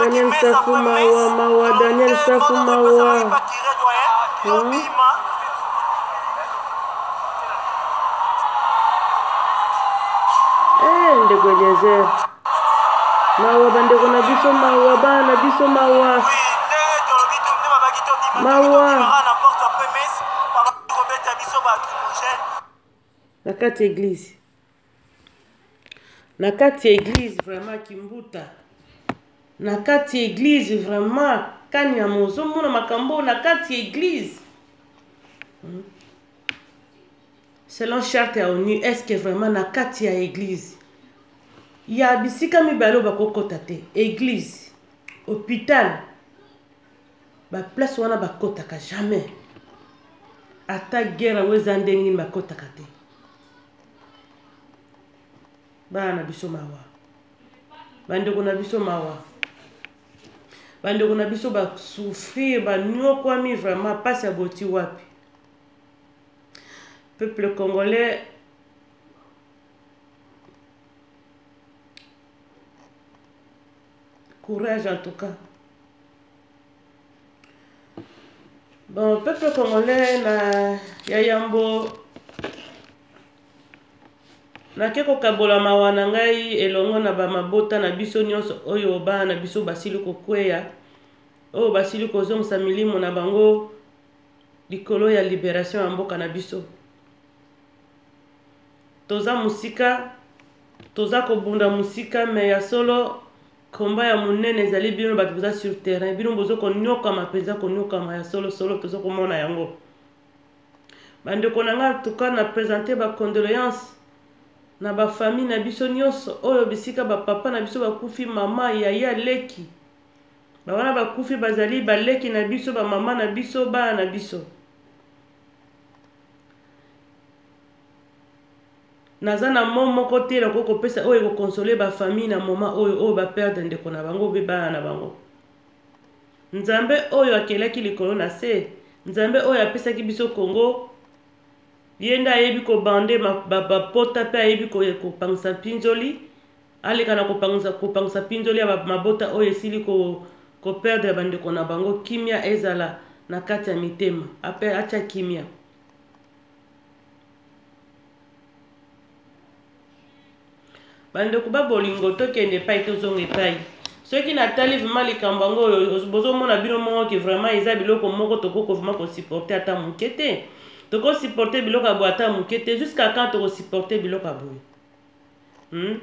Daniel Safu mawa mawa Daniel Safu mawa. Eh ndeko Eliezer. Mawa bandeko na biso mawa bana na biso mawa. Mawa. Na kati eglise. na kati ya eglize vraiment kimbuta na kati ya eglize vraiment kanyama ozomona makambo oyo na kati ya eglize hmm? selon charte ya onu estce vraiment na kati ya eglize ya bisika mibale oyo bakokɔta te eglize hôpital baplace wana bakɔtaka jamais ata guerre yango eza ndenge nini bakɔtaka te bana na biso mawa bandeko na biso mawa bandeko na biso basouffrir banyokwami vraiment mpasi ya boti wapi peuple congolais courage en tout cas bon peuple congolais na ya yambo nake kokabola mawa na ngai elongo na bamabota na biso nyonso oyo bana na biso basili kokweya oyo basili kozongisa milimo na bango likolo ya liberation ya mboka na biso toza mosika toza kobunda mosika me ya solo komba ya monene ezali bino bato boza sur terrain bino bozo koniokama mpenza koniokama ya solo solo toza komona yango bandeko na ngai tuka na presente bacondoleance na bafamille na biso nyonso oyo bisika bapapa na biso bakufi mama yaya leki bawana bakufi bazali baleki na biso bamama na biso bana na biso naza na mot moko te nakoki kopesa oyo ekokonsole bafamille na moma oyo oyo baperdre ndeko na bango mpe bana na bango nzambe oyo akelaki likolo na se nzambe oyo apesaki biso kongo ye nde ayebi kobande bapota mpe ayebi kopangisa mpinzoli aleka na kopangisa mpinzoli ya mabota oyo esili koperdre bandeko na bango kimia ezala na kati ya mitema ape atya kimia bandeko ba bolingo tokende epai tozonga epai soki natali vrima likambo yango oyo bozomona bino moko ke vraimen eza biloko moko tokoki vrima kosupporte ata moke te tokosupporte biloko ya boye ata moke te jusqu'à quand tokosupporte biloko ya boye hmm?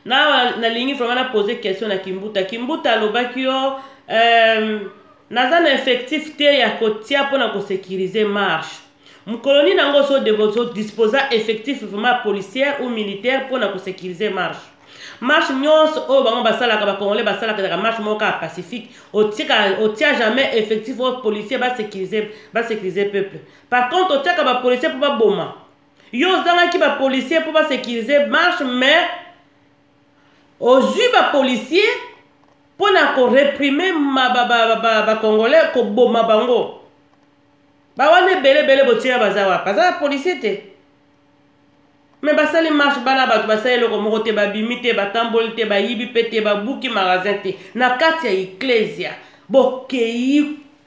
na nalingi vraiment na pose question na kimbuta kimbuta alobaki yo euh, naza na effectif te ya kotia mpo na kosécurise marche mokolo nini yango ozodisposa effectif vraiment policière ou militaire mpo na kosécurise marche marche nyonso oyo bango basalaka bacongolais basalaka ezaka marche moko kaka pacifique otia jamais effectif oyo policier basécurise peuple par contre otiaka bapolicier mpo baboma yo ozangaki ba policier mpo ba sécuriser marche mais ozwi ba policier mpo na koreprime bacongolais koboma bango bawana ebele ebele botyela baza wapi baza ba policier te me basali marche bana bato basali eloko moko te babimi te batamboli te bayibi mpe te babuki magasin te na kati ya eklesia bokei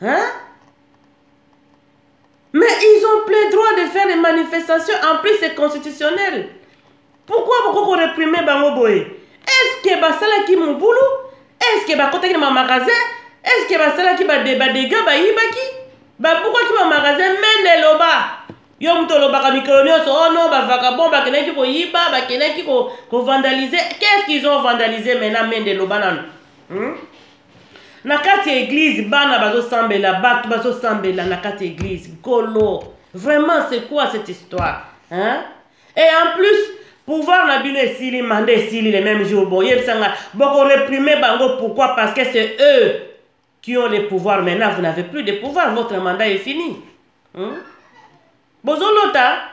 Hein? Mais ils ont plein droit de faire des manifestations. En plus, c'est constitutionnel. Pourquoi beaucoup réprimer Bango Boye Est-ce que Basala qui mon boulot Est-ce que Bakota qui mon magasin Est-ce que Basala qui bat des dégâts Baïbaki Pourquoi qui mon magasin Mende Loba yo moto olobaka mikolo nyonso oh non bavagabond bakendaki koyiba bakendaki kovandalize qu'est ce qu'ils ont vandalise maintenant mende loba nano hmm? na kati ya eglize bana bazosambela bato bazosambela na kati ya eglize nkolo vraiment c'est quoi cette histoire hein? et en plus pouvoir na bino esili manda esili le même jour boyebisa nga bokoreprime bango pourquoi parce que c'est eux qui ont les pouvoirs maintenant vous n'avez plus de pouvoir votre mandat est fini hmm? bozolota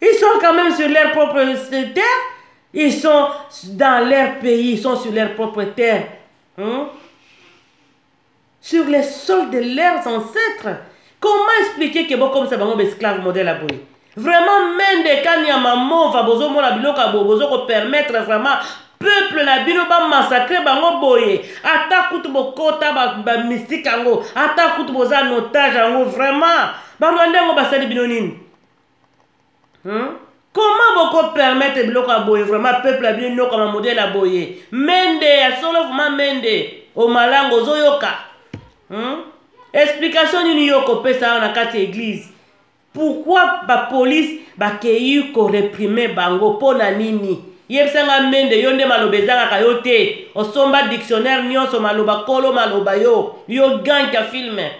Ils sont quand même sur leur propre terre. Ils sont dans leur pays, ils sont sur leur propre terre. Hein? Sur les sols de leurs ancêtres. Comment expliquer que bon comme ça, bon, esclave modèle à boyer? Vraiment, mende kanya maman va bozo mona biloko ya bozo ko permettre vraiment peuple na bino ba massacrer bango boye ata kutu bokota ba, ba mystique yango ata kutu boza notage yango vraiment barwanda yango basali bino nini hmm? comment boko permettre biloko ya boye vraiment peuple ya bino nokama modele ya boye mende ya solo vraiment mende omalango ozoyoka hmm? explication nini yo okopesa awa na kati ya eglise pourkui bapolice bakei koreprime bango mpo na nini yebisa nga mende yo nde maloba ezangaka yo te osomba dictionnaire nyonso maloba kolo maloba yo yo gank ya filme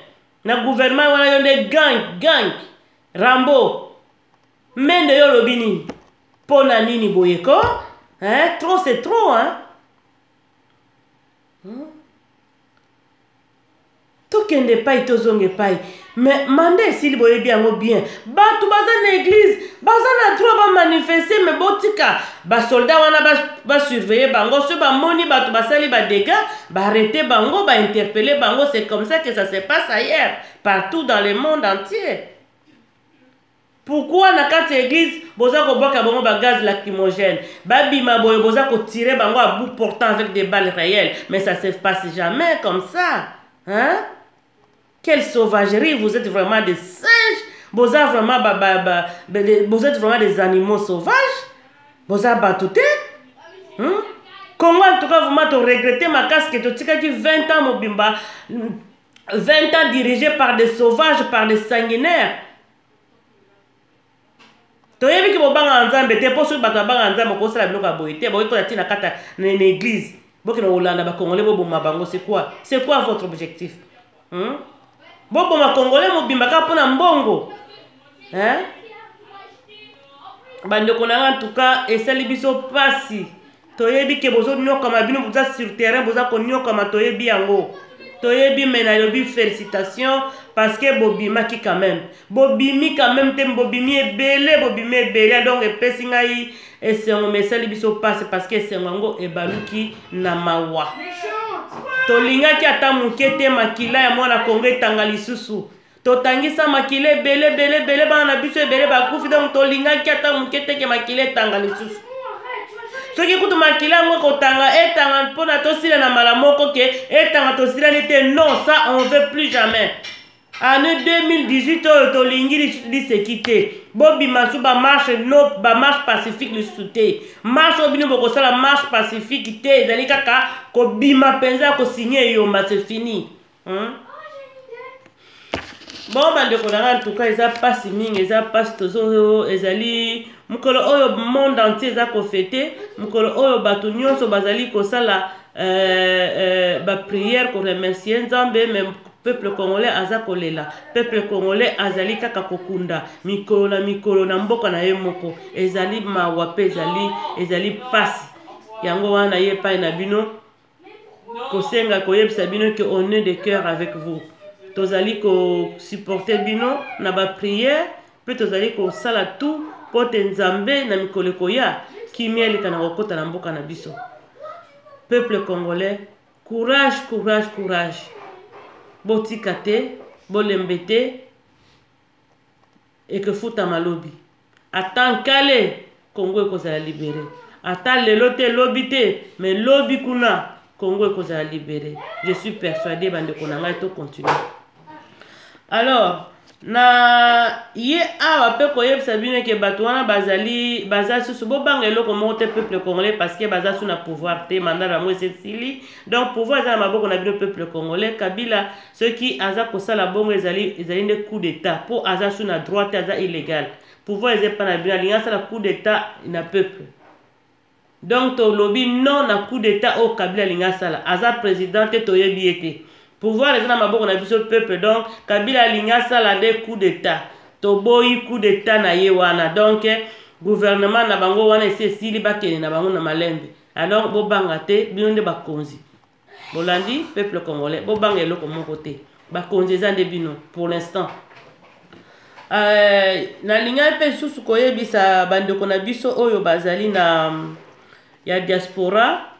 na gouvernement wana yo nde gank gank rambo mende yo olobi nini mpo na nini boye ko hein? trop c'est trop hein? Hmm? tokende epai tozonga epai mais manda esili boyebi yango bien bato baza na eglize baza na droit bamanifeste me botika basoldat wana basurveille ba bango soki bamoni bato basali badega baarrete bango bainterpele bango c'est comme ça que ça se passe ailleurs partout dans le monde entier pourquoi na kati ya église boza kobwaka bango bagaz lacrymogène babima boye boza kotire bango à bout portant avec des balles réelles mais ça se passe jamais comme ça hein quelle sauvagerie vous êtes vraiment des singes boza vraiment ba, ba, ba, ba, de, vous êtes vraiment des animaux sauvages boza bato te hmm? congo en tout cas vraiment toregrete makasi ke totikaki 20 ans mobimba 20 ans dirigé par des sauvages par des sanguinaires toyebi ke bobangaka nzambe te mpo soki bato babangaka nzambe okosala biloko ya boye te bokoki kola ntina kata na église bokende kolanda bacongolais boboma bango c'est quoi c'est quoi votre objectif hmm? boboma congolais mobimba kaka mpo na mbongo hein? bandeko na nga ntuka esali biso mpasi toyebi ke bozoniokama bino boza sur terrain boza koniokama toyebi yango toyebi me nalobi félicitation parce que bobimaki quand même bobimi quand même te bobimi ebele bobimi ebele donc epesi ngai esengo me esali biso mpasi parce que esengo yango ebaluki na mawa tolingaki ata moke te makila ya mwana kongo etanga lisusu totangisa makila ebele ebele ebele bana na biso ebele bakufi donc tolingaki ata moke teke makila etanga lisusu soki kutu makila yango ekotanga etanga mpona tosila na mbala moko ke etanga tosilani te non ça on veut plus jamais année 2018 oyo tolingi liseki te bobima su bamarche no bamarche pacifique lisusu te marche oyo bino bokosala marche pacifique te ezali kaka kobima mpenza ya kosigne eyomba se fini Hein? bon bandeko na ngai antuka eza mpasi mingi eza mpasi tozo ezali mokolo oyo monde entier eza kofete mokolo oyo bato nyonso bazali kosala euh, euh, bapriere koremercie nzambe me peuple congolais aza kolela peuple congolais azali kaka kokunda mikolo na mikolo na mboka na ye moko ezali mawa mpe ezali ezali mpasi yango wana ye epai na bino kosenga koyebisa bino que on est de cœur avec vous tozali kosupporte bino na bapriere mpe tozali kosala tout mpo te nzambe na mikolo ekoya kimia elekana kokota na mboka na biso peuple congolais courage courage courage botika te bolembe te ekefutama lobi ata nkale kongo ekozala libere ata lelo te lobi te me lobi kuna kongo ekozala libere je suis persuade bandeko na ngai tocontinue alors na ye awa mpe koyebisa bino eke bato wana bazali baza susu bobanga eloko moko te peuple congolais parce que baza su na pouvoir te manda na yango esesili donc pouvoir eza na maboko na bino peuple congolais kabila soki aza kosala bongo ezali ezali nde coup d'etat mpo aza su na droit te aza illégal pouvoir eza epai na bino alingi asala coup d'etat na peuple donc tolobi non na coup d'etat oyo kabila alingi asala aza président te toyebi ye te pouvoir eza na maboko na biso peuple donc kabila alingi asala nde coup d'etat toboyi coup d'etat na ye wana donc gouvernement na bango wana esi esili bakende na bango na malembe alors bobanga te bino nde bakonzi bolandi peuple congolais bobanga eloko moko te bakonzi eza nde bino pour l'instant euh, nalingaki mpe lisusu koyebisa bandeko na biso oyo bazali na ya diaspora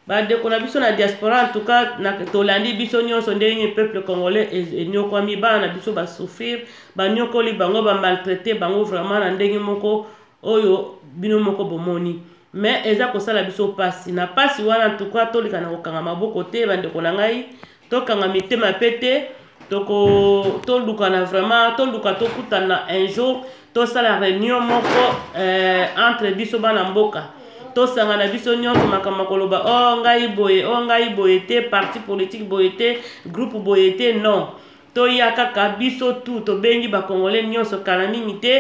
bandeko na biso na diaspora en tout cas tolandi biso nyonso ndenge peuple congolais e-, enyokwami bana na biso basouffrir banyokoli bango bamaltraite bango vraiment na ndenge moko oyo bino moko bomoni me eza kosala biso mpasi na mpasi wana ntuka tolika na kokanga maboko te bandeko na ngai tokanga mitema mpe te toko tolukana vraiment toluka tokutana un jour tosala réunion moko euh, entre biso bana mboka tosangana biso nyonso makambo ya koloba o oh, ngai boye o oh, ngai boye te parti politique boye te groupe boye te non toya kaka biso tu tobengi bacongolais nyonso kala mingi te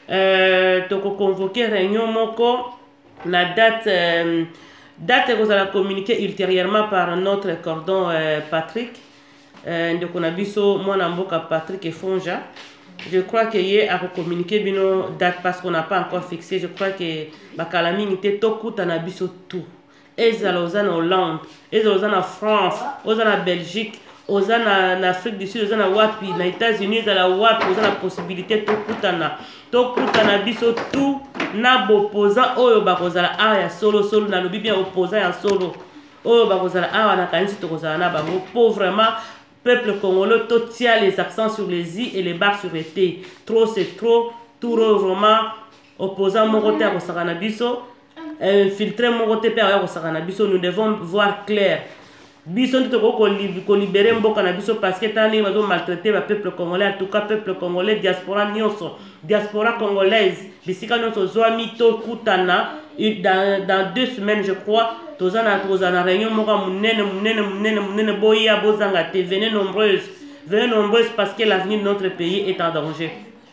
euh, tokoconvoke réunion moko na date euh, date ekozala communiqué ultérieurement par notre cordon euh, patrick euh, ndeko na biso mwana mboka patrick efonja je crois que ye akocommuniqué bino date parce qu'on n'a pas encore fixé je crois que bakala mingi te tokutana biso tout ezala oza na hollande ezala oza na france oza na belgique oza na, na afrique du sud oza na wapi na états-unis ezala wapi oza na possibilité tokutana tokutana biso tout na bopoza oyo bakozala awa ya solosolo nalobi bien opoza ya solo oyo bakozala awa nakanisi tokozala na bango mpo vraiment peuple congolais totia les accents sur les i et les bar sur les t trop c'est trop touro vraiment opposant moko te akosaka na biso infiltre moko te mpe akoya kosaka na biso nous devons voir clair biso nde tokoki kolibere mboka na biso parce que tala ndenge bazo maltraite ba peuple congolais en tout cas peuple congolais diaspora nyonso diaspora congolaise bisika nyonso ozwami tokutana dans, dans deux semaines je crois toza na tokozala na réunion moko ya monene monene monene monene boya bozanga te venez nombreuse venez nombreuse parce que l'avenir de notre pays est en danger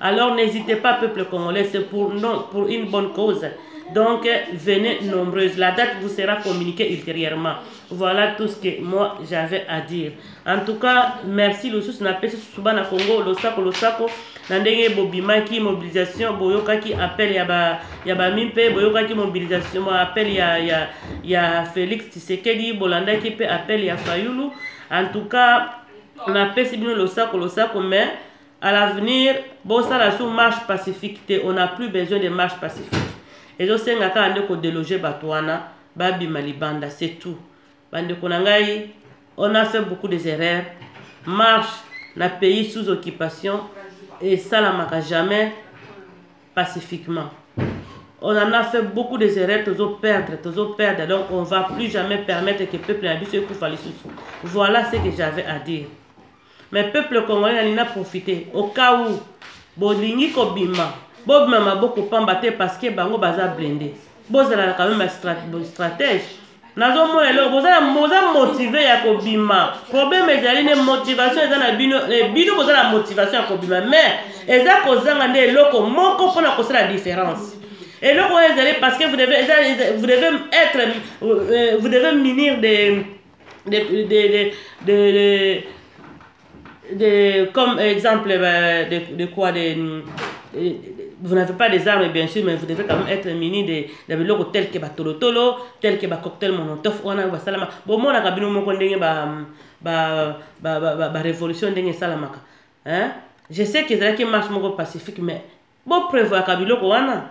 Alors n'hésitez pas, peuple congolais, c'est pour, non, pour une bonne cause. Donc, venez nombreuses. La date vous sera communiquée ultérieurement. Voilà tout ce que moi, j'avais à dire. En tout cas, merci. Le sous n'a pas suba na Congo, le sako, le sako. Na ndenge bobimaki mobilisation, boyokaki appel ya ba ya ba mimpe, boyokaki mobilisation, appel ya ya ya Felix Tshisekedi, bolandaki pe appel ya Fayulu. En tout cas, na pesi bino losako losako mais à l'avenir bosala sous marche pacifique te on a plus besoin de marche pacifique ezosenga kaka nde kodeloge bato wana babima libanda c'est tout bandeko na ngai on a fait beaucoup des erreurs marche na pays sous occupation esalamaka jamais pacifiquement on en a fait beaucoup des erreurs tozo perdre tozo perdre donc on va plus jamais permettre que peuple na biso ekufa lisusu voilà ce que j'avais à dire mais peuple congolais nalingi na profite au cas où bolingi kobima bobima maboko pamba te parce que bango baza blende bozala na quand même stratège nazomona eloko boza motive ya kobima problème ezali nde motivation eza na bino eh, bino boza na motivation ya kobima mais eza kozanga nde eloko moko mpona kosala différence eloko oyo ezali parce que vous devez, vous devez être euh, vous devez minir des de, de, de, de, de, de comme exemple euh, de, de quoi de, de vous n'avez pas des armes, bien sûr, mais vous devez quand même être muni des de biloko tels que batolotolo, tels que cocktail monotophe, on a basalama. Bon, moi, on a kabino moko ndenge ba ba ba ba ba, ba révolution ndenge salamaka. Hein? Je sais que ezalaki marche moko pacifique, mais bon prévoir kabiloko wana.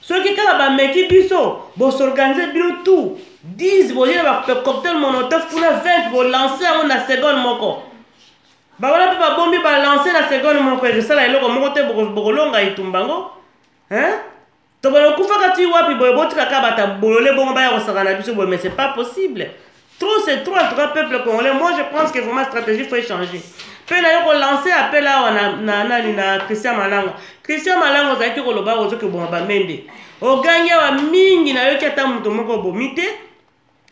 soki kaka bameki biso bosorganize bino tout 10 boye bacoctel monotof kuna 20 bolanse yango na seconde moko bawana mpe babombi balanse na seconde moko ekosala eloko moko te bokolonga etumba yango tobana okufaka ti wapi boye botikaka bata bolole bongo baya kosaka na biso boye mais c'est pas possible Trop c'est trop en tout cas peuple congolais. Moi je pense que vraiment stratégie faut changer. mpe naye kolanse apele awa na, na nani na christian malanga christian malanga ozalaki koloba ozo koboma bamende ogangi awa mingi nayoki ata moto moko obomi te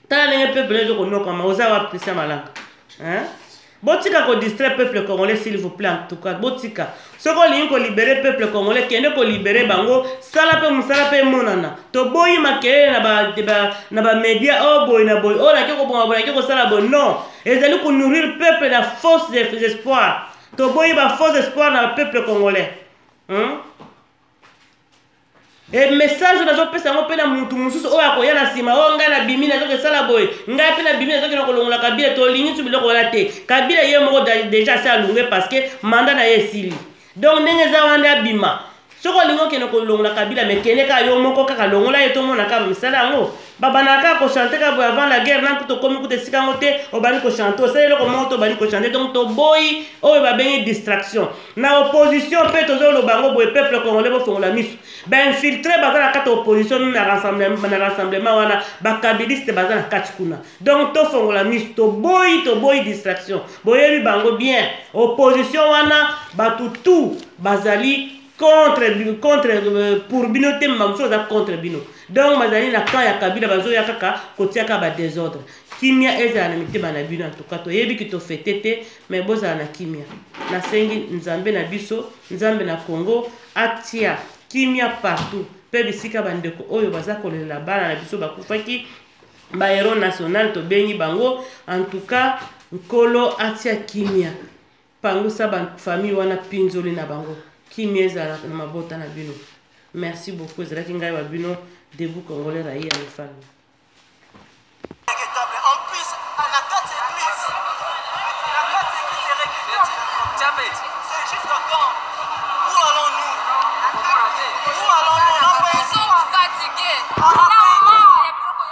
tala ndenge peuple ezo konokama oza wapi christian malanga hein? Botika ko distraire peuple congolais s'il vous plaît en tout cas botika soki olingi ko libérer peuple congolais kende ko libérer bango sala pe musala pe monana toboyi makelele na ba, ba na ba media o oh, boyi na boyi o oh, nake kobonga boyi nake kosala boyi non ezali ko nourrir peuple na fausse espoir toboyi ba fausse espoir na peuple congolais hmm? e message nazopesa yango mpe na motu mosusu oyo akoya na nsima oyo oh, ngai nabimi nazoki esala boye ngai mpe nabimi nazoki na kolongola kabila tolingi nsu biloko wana te kabila ye moko deja asi alunge parceke manda na ye esili donc ndenge eza wana nde abima soki olingi okende kolongola kabila mekende kaka yo moko kaka longola ye tomona kaka misala yango babandaka kaka kochante kaka boye avant la guerre na kutu okomi kutu esika yango te obandi kochante osali eloko moko te obandi kochante donc toboyi oyo babengi distraction na opposition mpe tozoloba yango boye peuple congolais bofongola miso bainfiltre baza na kati ya opposition mimi na rassemblement wana bakabiliste baza na kati kuna donc tofongola miso toboyi toboyi distraction boyebi bango bien opposition wana bato tout bazali contre contre euh, pour bino te mba mosusu aza contre bino donc bazali na camp ya kabila bazoya kaka kotiaka badésordre kimia ezala na mitema na bino antuka toyebi ki tofete te mai bozala na kimia nasengi nzambe na biso nzambe na congo atia kimia partout mpe bisika bandeko oyo baza kolelela bana na biso bakufaki bahero national tobengi bango antuka nkolo atia kimia pangusa ba famille wana pinzoli na bango kimia ezala na mabota na bino merci beaucoup ezalaki ngai wa bino debout congolais rayi ya mifamille